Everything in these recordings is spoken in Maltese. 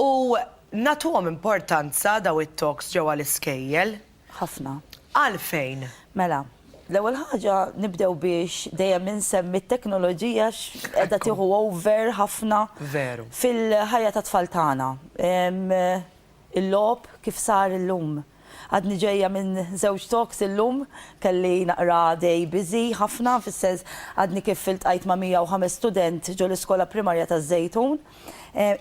U nagħtuhom importanza dawn it-talks ġewwa l-iskejjel? Ħafna. Għalfejn? Mela, l-ewwel ħaġa nibdew biex dejjem insemmi t-teknoloġija għax qiegħda tieħu over ħafna fil-ħajja tat-tfal tagħna. Il-logħob kif sar illum? Għadni ġejja minn żewġ talks illum, kelli naqra day busy ħafna, fis-sens għadni kif iltqajt ma' 105 student ġo l-Iskola Primarja taż-Żejtun.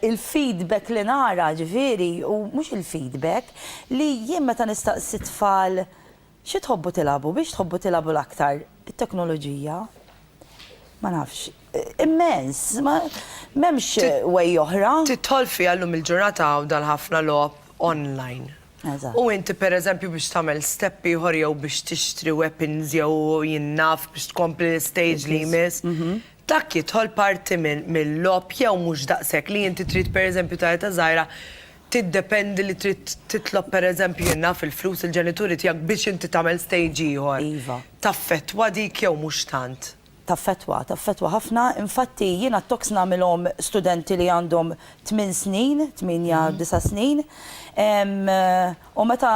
Il-feedback li nara, ġifieri, u mhux il-feedback, li jien meta nistaqsi t-tfal xi tħobbu tilagħbu, b'hiex tħobbu tilagħbu l-aktar, it-teknoloġija? Ma nafx. Immens, ma m'hemmx way oħra. Tidħol fiha llum il-ġurnata hawn dal-ħafna logħob online. Eżatt. U inti pereżempju biex tagħmel step ieħor jew biex tixtri weapons jew jien naf biex tkompli l-istage li jmiss, dak jidħol parti mil-logħob jew mhux daqshekk li inti trid pereżempju ta' età żgħira tiddependi li trid titlob pereżempju jien naf il-flus il-ġenituri tiegħek biex inti tagħmel stage ieħor. Iva. Taffettwa dik jew mhux tant? Taffettwa, taffettwa ħafna. Infatti jiena t-talks nagħmilhom studenti li għandhom tmien snin, tmienja, disa' snin. U meta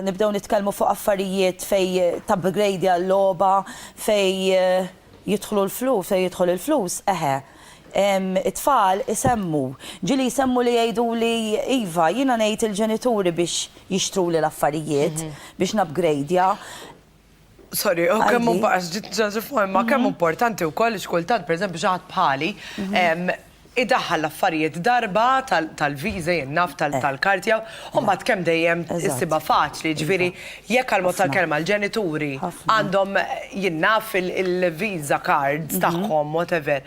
nibdew nitkellmu fuq affarijiet fejn tapgradja l-logħba, fejn jidħlu l-flus, fejn jidħol il-flus, eħe, it-tfal isemmu. Ġieli jsemmu li jgħiduli, iva, jiena ngħid il-ġenituri biex jixtruli l-affarijiet, biex napgradja. Sorry, oh, kemm għax ġit ġaġi forma, mhm. kemm importanti wkoll ix kultant, pereżempju xi ħadd bħali, mhm. idaħħal l-affarijiet darba tal-viża jinnaf eh. tal-kartja, u mbagħad kemm dejjem issiba faċli, ġifieri jekk għal mod tal-kelma l-ġenituri għandhom jinnaf il-viża cards mhm. tagħhom, whatever.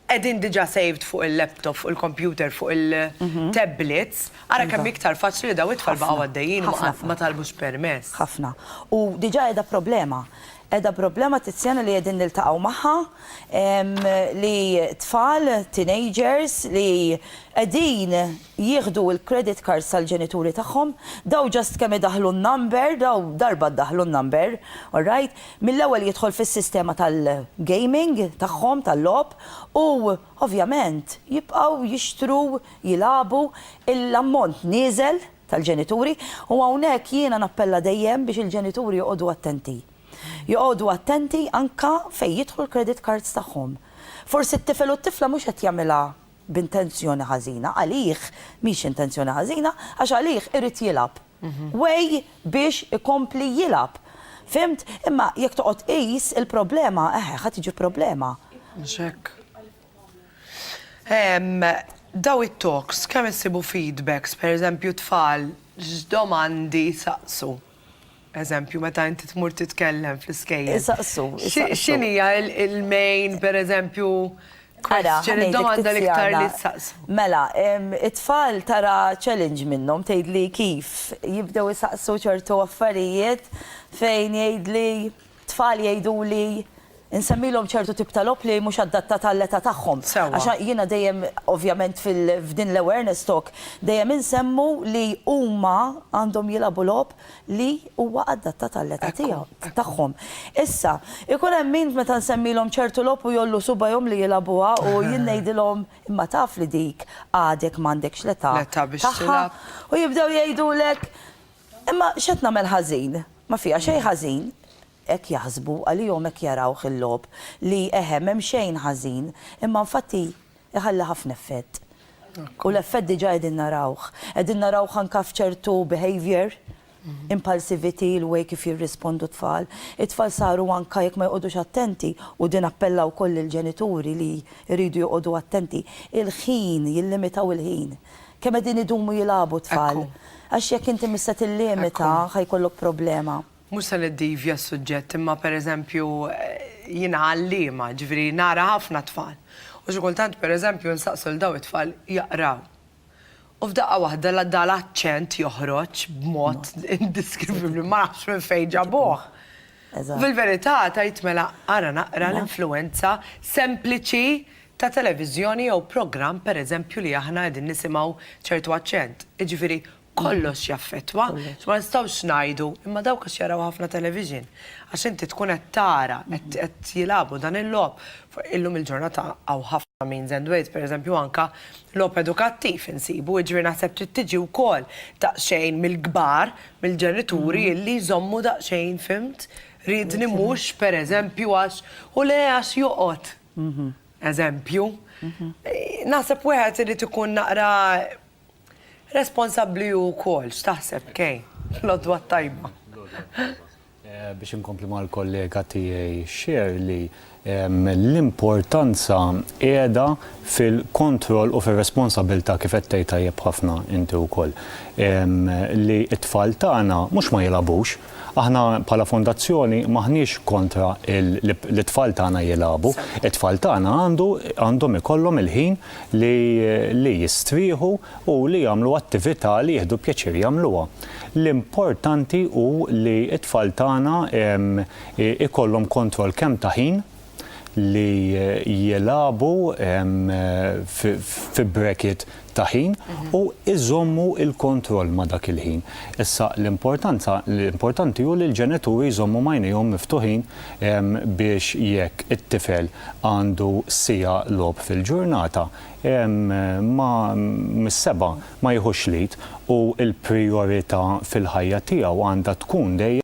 Qegħdin diġà saved fuq il-laptop, fuq il-kompjuter, fuq il-tablets, ara kemm iktar faċli li dawn it-tfal baqgħu għaddejjin u ma talbux permess. Ħafna. U diġà qiegħda problema. Qiegħda problema Tiziana li qegħdin niltaqgħu magħha li tfal, teenagers li qegħdin jieħdu l-credit cards tal-ġenituri tagħhom, daw just kemm idaħħlu n-number, daw darba ddaħħlu n-number, alright, mill-ewwel jidħol fis-sistema tal-gaming tagħhom, tal-logħob, u ovvjament jibqgħu jixtru, jilagħbu, l-ammont nieżel tal-ġenituri, u hawnhekk jiena nappella dejjem biex il-ġenituri joqogħdu attenti. Joqogħdu attenti anke fejn jidħlu l-credit cards tagħhom. Forsi t-tifel u t-tifla mhux qed jagħmilha b'intenzjoni ħażina, għalih mhix intenzjoni ħażina għax għalih irid jilgħab. Way biex ikompli jilgħab. Fhimt? Imma jekk toqgħod tqis il-problema, eħe, ħa tiġi problema. Mhux hekk. Dawn it-talks kemm issibu feedbacks, pereżempju tfal x'domandi jsaqsu? Eżempju, meta inti tmur titkellem fl-iskejjel. Isaqsu, isaqsu. X'inhija il-main, pereżempju, question, id-domanda l-iktar li jissaqsu? Mela, it-tfal tara challenge minnhom, tgħidli kif, jibdew isaqsu ċertu affarijiet fejn jgħidli, Tfal jgħiduli nsemmilhom ċertu tip ta' logħob li mhux adattat għall-età tagħhom. Sewwa. Għax jiena dejjem ovvjament fil f'din l-awareness talk dejjem insemmu li huma għandhom jilagħbu logħob li huwa adattat għall-età tiegħu, tagħhom. Issa, ikun hemm min meta nsemmilhom ċertu logħob u jgħollu subgħajhom li jilagħbuha u jien ngħidilhom imma taf li dik għadek m'għandekx l-età tagħha. L-età biex tilgħab. U jibdew jgħidulek Imma x'qed nagħmel ħażin? Ma fiha xejn ħażin. Hekk jaħsbu, għalihom hekk jarawh il-logħob, li, eħe, m'hemm xejn ħażin. Imma infatti jħalli ħafna effett. U l-effett diġà qegħdin narawh. Qegħdin narawh anke f'ċertu behaviour, impulsivity, il-way kif jirrispondu t-tfal. It-tfal saru anke jekk ma joqogħdux attenti, u din appella wkoll lill-ġenituri li jridu joqogħdu attenti, il-ħin, jillimitaw il-ħin. Kemm qegħdin idumu jilagħbu t-tfal? Ekku. Għax jekk inti mhux se tillimita Ekku. ħa jkollok problema. Mhux se niddivja s-suġġett imma per eżempju jiena għalliema, ġifieri nara ħafna tfal. U xi kultant per eżempju nsaqs lil dawn it-tfal jaqraw. U f'daqqa waħda la da l-aċċent joħroġ b'mod indiskrivibbli, ma nafx minn fejn ġabuh. Eżatt. U fil-verità tgħid mela ara naqra l-influwenza sempliċi ta' televiżjoni jew programm pereżempju li aħna qegħdin nisimgħu ċertu aċċent. Jiġifieri kollox jaffettwa. Ma nistgħux ngħidu, imma dawk għax jaraw ħafna television. Għax inti tkun qed tara, qed jilagħbu dan il-logħob. Illum il-ġurnata hawn ħafna means and ways, pereżempju anke logħob edukattiv insibu, jiġifieri naħseb trid tiġi wkoll daqsxejn mill-kbar, mill-ġenituri illi jżommu daqsxejn, fhimt? Riedni mhux pereżempju għax, u le għax joqgħod. eżempju. Naħseb wieħed irid ikun naqra responsabbli hu wkoll. X'taħseb, Kay? L-għodwa t-tajba. Biex inkompli mal-kollega tiegħi Shirley, l-importanza qiegħda fil-kontroll u fir-responsabbiltà, kif qed tgħid tajjeb ħafna inti wkoll, li t-tfal tagħna mhux ma jilgħabux, Aħna bħala fondazzjoni m'aħniex kontra li t-tfal tagħna jilagħbu. It-tfal tagħna għandu għandhom ikollhom il-ħin li li jistrieħu u li jagħmlu attività li jieħdu pjaċir jagħmluha. L-importanti hu li t-tfal tagħna ikollhom kontroll kemm ta' ħin, li jilagħbu fi bracket ta' ħin u jżommu l-kontroll ma' dak il-ħin. Issa l-importanza, l-importanti hu li l-ġenituri jżommu m'għajnejhom miftuħin biex jekk it-tifel għandu siegħa logħob fil-ġurnata ma mis-sebgħa ma jiħux l-id u l-prijorita fil-ħajja tiegħu għandha tkun dejjem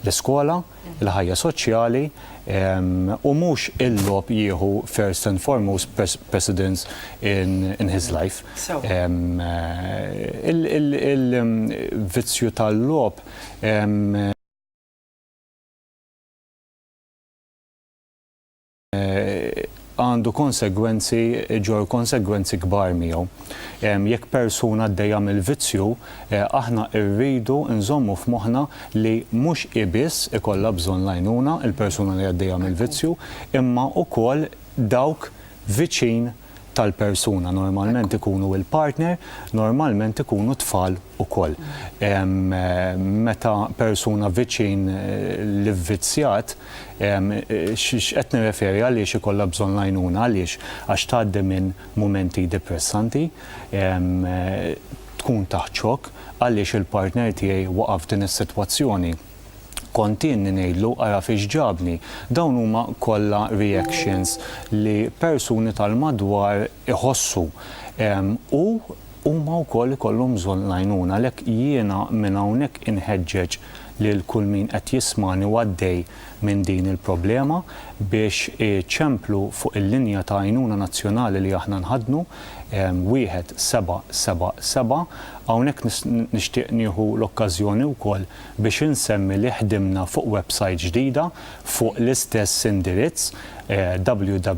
l-iskola, il-ħajja soċjali, u mhux il-logħob jieħu first and foremost precedence in his life. Il-vizzju tal-logħob għandu konsegwenzi, iġorr konsegwenzi kbar miegħu. Jekk persuna għaddejja mill-vizzju, aħna rridu nżommu f'moħħna li mhux hi biss ikollha bżonn l-għajnuna, il-persuna li għaddejja mill-vizzju, imma wkoll dawk viċin, tal-persuna normalment ikunu il-partner, normalment ikunu t-tfal ukoll. Meta persuna viċin l-ivvizzjat, x'qed nirreferi għaliex ikollha bżonn l-għajnuna għaliex għax tgħaddi minn mumenti depressanti, tkun taħt xokk għaliex il-partner tiegħi waqa' f'din is-sitwazzjoni. Kontienni ngħidlu ara fiex ġabni. Dawn huma kollha reactions li persuni tal-madwar iħossu u huma wkoll ikollhom bżonn l-għajnuna. Għalhekk jiena minn hawnhekk inħeġġeġ lil kull min qed jismagħni u għaddej minn din il-problema biex iċemplu fuq il-linja ta' għajnuna nazzjonali li aħna nħaddnu, 1777. Hawnhekk nixtieq nieħu l-okkażjoni wkoll biex insemmi li ħdimna fuq websajt ġdida fuq l-istess indirizz www.rgf.org.mt.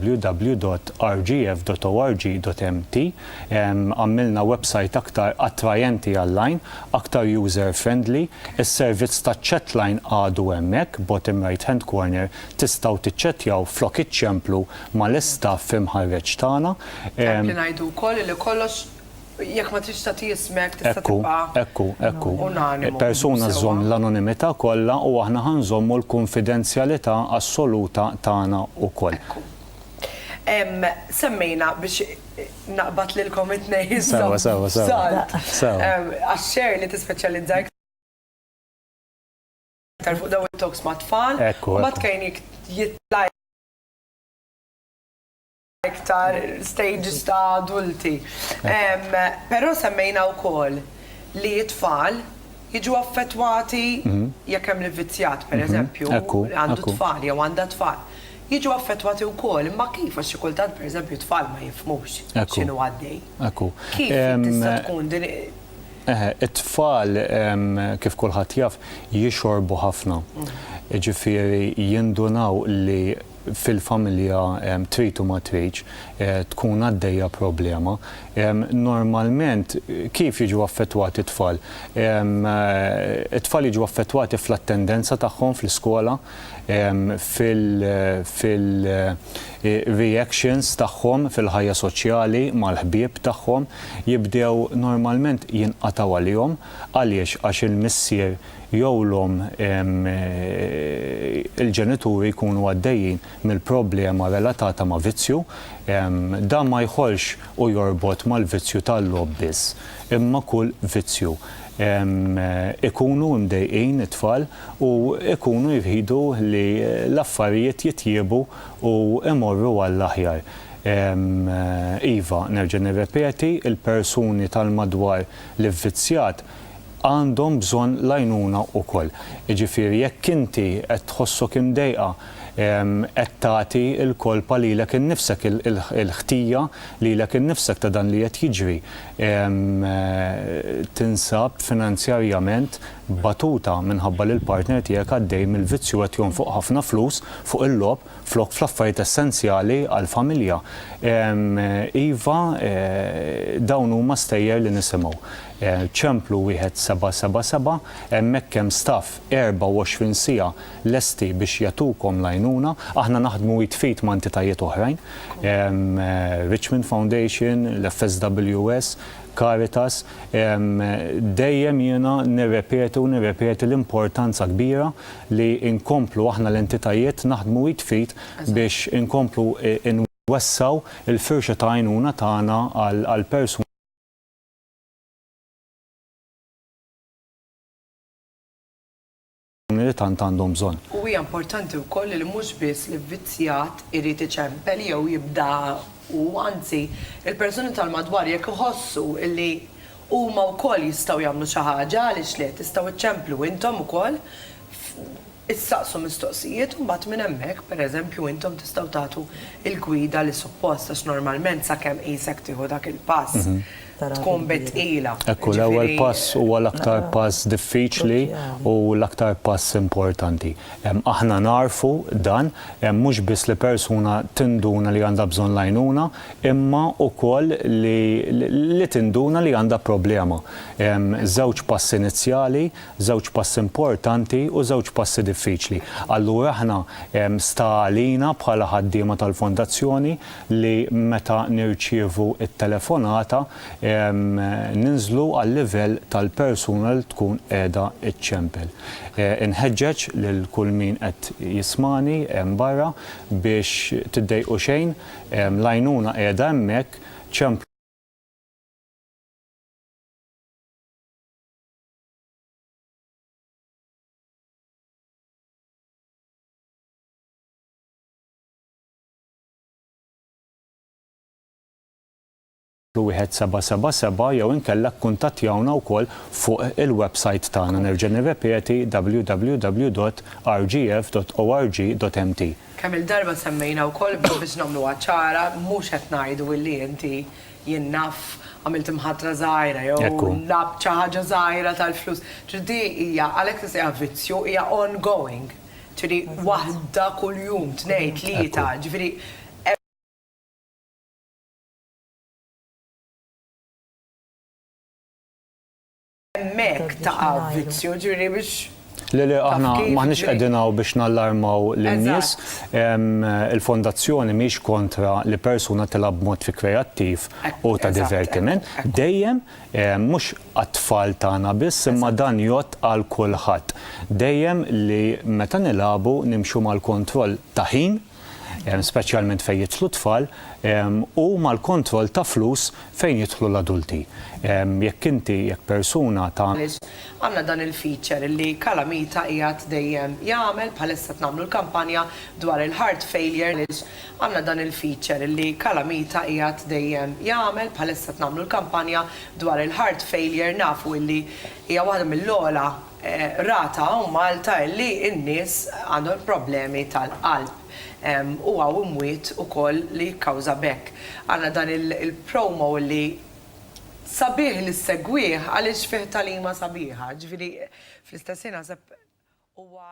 Għammilna websajt aktar attrajenti għall-għajn, aktar user friendly. Is-servizz taċ-chatline għadu hemmhekk, bottom right hand corner, tistgħu tiċċettjaw flok iċċemplu mal-istaff imħarreġ tagħna. Hemm li ngħidu wkoll li kollox Jekk ma tridx tagħti ismek tista' tibqa'. Ekku, ekku, ekku. Persuna żżomm l-anonimità kollha u aħna ħa nżommu l-kunfidenzjalità assoluta tagħna wkoll. Ekku. Semmejna biex naqbad lilkom it-tnejn iżżomm f'salt. Għax Share li tispeċjalizza iktar fuq dawn it-talks mat-tfal u mbagħad Kane jitla' iktar stages ta' adulti. Però semmejna wkoll li t-tfal jiġu affettwati jekk hemm l-ivvizzjat, pereżempju, li għandu t-tfal jew għandha t-tfal, jiġu affettwati wkoll. Imma kif? Għax xi kultant, pereżempju, t-tfal ma jifhmux x'inhu għaddej. Kif tista' tkun din? Eħe, it-tfal, kif kulħadd jaf, jixorbu ħafna. Jiġifieri jindunaw li fil-familja trid u ma tridx tkun għaddejja problema. Normalment kif jiġu affettwati t-tfal? It-tfal jiġu affettwati fl-attendenza tagħhom fl-iskola, fil-reactions tagħhom fil-ħajja soċjali mal-ħbieb tagħhom, jibdew normalment jinqatgħu għalihom. Għaliex? Għax il-missier jew l-omm il-ġenituri jkunu għaddejjin mill-problema relatata ma' vizzju, dan ma jħollx u jorbot mal-vizzju tal-logħob biss, imma kull vizzju. Ikunu mdejqin it-tfal u jkunu jridu li l-affarijiet jitjiebu u jmorru għall-aħjar. Iva, nerġa' nirrepeti, il-persuni tal-madwar l-ivvizzjat għandhom bżonn l-għajnuna wkoll. Jiġifieri jekk inti qed tħossok imdejqa, qed tagħti l-kolpa lilek innifsek, il-ħtija lilek innifsek ta' dan li qed jiġri, tinsab finanzjarjament batuta minħabba li l-partner tiegħek għaddej mill-vizzju, qed jonfoq ħafna flus fuq il-logħob, flok fl-affarijiet essenzjali għall-familja. Iva, dawn huma stejjer li nisimgħu. Ċemplu wieħed seba' seba' seba', hemmhekk hemm staff 24 siegħa lesti biex jagħtukom l-għajnuna. Aħna naħdmu id f'id ma' entitajiet oħrajn, Richmond Foundation, l-FSWS, Caritas, dejjem jiena nirrepeti u nirrepeti l-importanza kbira li nkomplu aħna l-entitajiet naħdmu id f'id biex inkomplu nwessgħu l-firxa ta' għajnuna tagħna għall-persuni li tant għandhom bżonn. U hija importanti wkoll li mhux biss l-ivvizzjat irid iċempel jew jibda hu, anzi, il-persuni tal-madwar jekk iħossu li Huma wkoll jistgħu jagħmlu xi ħaġa, għaliex le, tistgħu ċċemplu intom ukoll, issaqsu mistoqsijiet u mbagħad minn hemmhekk, pereżempju, intom tistgħu tagħtu l-gwida li suppost għax normalment sakemm qisek tieħu dak il-pass tkun bit tqila. Ekku, l-ewwel pass huwa l-aktar pass diffiċli u l-aktar pass importanti. Aħna nagħrfu dan, mhux biss li persuna tinduna li għandha bżonn l-għajnuna, imma wkoll li tinduna li għandha problema. Hemm żewġ passi inizjali, żewġ passi importanti u żewġ passi diffiċli. Allura aħna sta għalina bħala ħaddiema tal-Fondazzjoni li meta nirċievu t-telefonata ninżlu għal-livell tal-persuna li tkun qiegħda ċċempel. Inħeġġeġ lil kull min qed jismagħni hemm barra biex tiddejqu xejn, L-għajnuna qiegħda hemmhekk, ċemplu. 1777 jew inkella kkuntattjawna wkoll fuq il-websajt tagħna, nerġa' nirrepeti, www.rgf.org.mt. Kemm-il darba semmejna wkoll imma biex nagħmluha ċara, mhux qed ngħidu illi inti, jien naf, għamilt imħatra żgħira jew labt xi ħaġa żgħira tal-flus. Ġifieri di hija, għalhekk tissejjaħ vizzju, hija ongoing. Ġifieri waħda kuljum, tnejn, tlieta, ġifieri. Hemmhekk taqa' vizzju, ġifieri biex. Le, le, aħna m'aħniex qegħdin hawn biex nallarmaw lin-nies. Il-Fondazzjoni mhix kontra li persuna tilgħab b'mod kreattiv u ta' divertiment. Dejjem, mhux għat-tfal tagħna biss, imma dan jgħodd għal kulħadd. Dejjem li meta nilagħbu nimxu mal-kontroll ta' ħin, speċjalment fejn jidħlu t-tfal, u mal-kontroll ta' flus fejn jidħlu l-adulti. Jekk inti, jekk persuna ta'. Għandna dan il-feature li Calamita qiegħed dejjem jagħmel, bħalissa qed nagħmlu l-kampanja dwar il-heart failure. Għandna dan il-feature li Calamita qiegħed dejjem jagħmel, bħalissa qed nagħmlu l-kampanja dwar il-heart failure, nafu li hija waħda mill-ogħla. Rata u Malta illi n-nies għandhom problemi tal-qalb u hawn imwiet ukoll li jikkawża b'hekk. Għandna dan il-promo illi sabiħ li ssegwih għaliex fih tagħlima sabiħa. Ġifieri fl-istess ħin naħseb huwa.